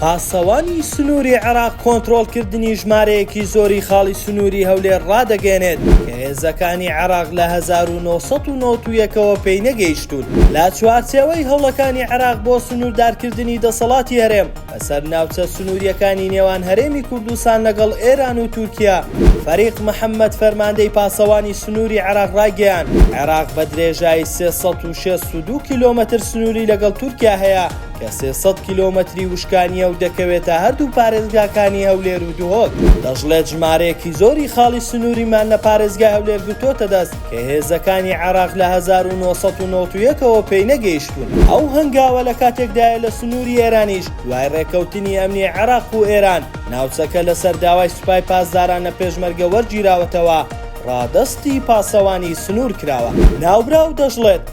پاسەوانی سنووری عێراق کۆنترۆڵکردنی ژمارەیەکی زۆری خاڵی سنووری هەولێر ڕادەگەیەنێت کە هێزەکانی عێراق لە هەزار و نۆ سەد و نەوەد و یەک ەوە پێی نەگەیشتوون. لە چوارچێوەی هەوڵەکانی عێراق بۆ سنووردارکردنی دەسەڵاتی هەرێم بەسەر ناوچە سنوورییەکانی نێوان هەرێمی کوردستان لەگەڵ ئێران و تورکیا، فەریق محەممەد فەرماندەی پاسەوانی سنووری عێراق ڕایگەیاند، عێراق بە درێژایی سێ سەد و شەست و دوو کیلۆمەتر سنووری لەگەڵ تورکیا هەیە، کە سێ سەد کیلۆمەتری وشکانییە و دەکەوێتە هەردوو پارێزگاکانی هەولێر و دهۆک، دەشڵێت ژمارەیەکی زۆری خاڵی سنووریمان لە پارێزگای هەولێر گرتووەتە دەست، کە هێزەکانی عێراق لە هەزار و نۆ سەد و نەوەد و یەک ەوە پێی نەگەیشتوون. ئەو هەنگاوە لە کاتێکدایە لە سنووری ئێرانیش دوای رێککەوتنی ئەمنی عێراق و ئێران، ناوچەکە لەسەر داوای سوپای پاسداران لە پێشمەرگە وەرگیراوەتەوە، رادەستی پاسەوانی سنوور کراوە. ناوبراو دەشڵێت،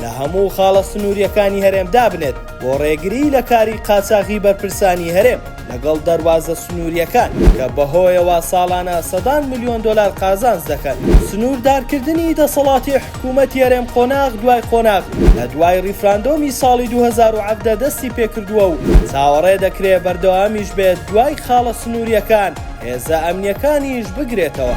لە هەموو خاڵە سنوورییەکانی هەرێم دابنێت بۆ ڕێگریی لە کاری قاچاغی بەرپرسانی هەرێم لەگەڵ دەروازە سنوورییەکان کە بەهۆیەوە ساڵانە سەدان ملیۆن دۆلار قازانج دەکەن. سنووردارکردنی دەسەڵاتی حکوومەتی هەرێم قۆناغ دوای قۆناغ لە دوای ڕیفراندۆمی ساڵی دوو هەزار و حەڤدە دەستی پێکردووە و چاوەڕێ دەکرێت بەردەوامیش بێت دوای خاڵە سنوورییەکان هێزە ئەمنیەکانیش بگرێتەوە.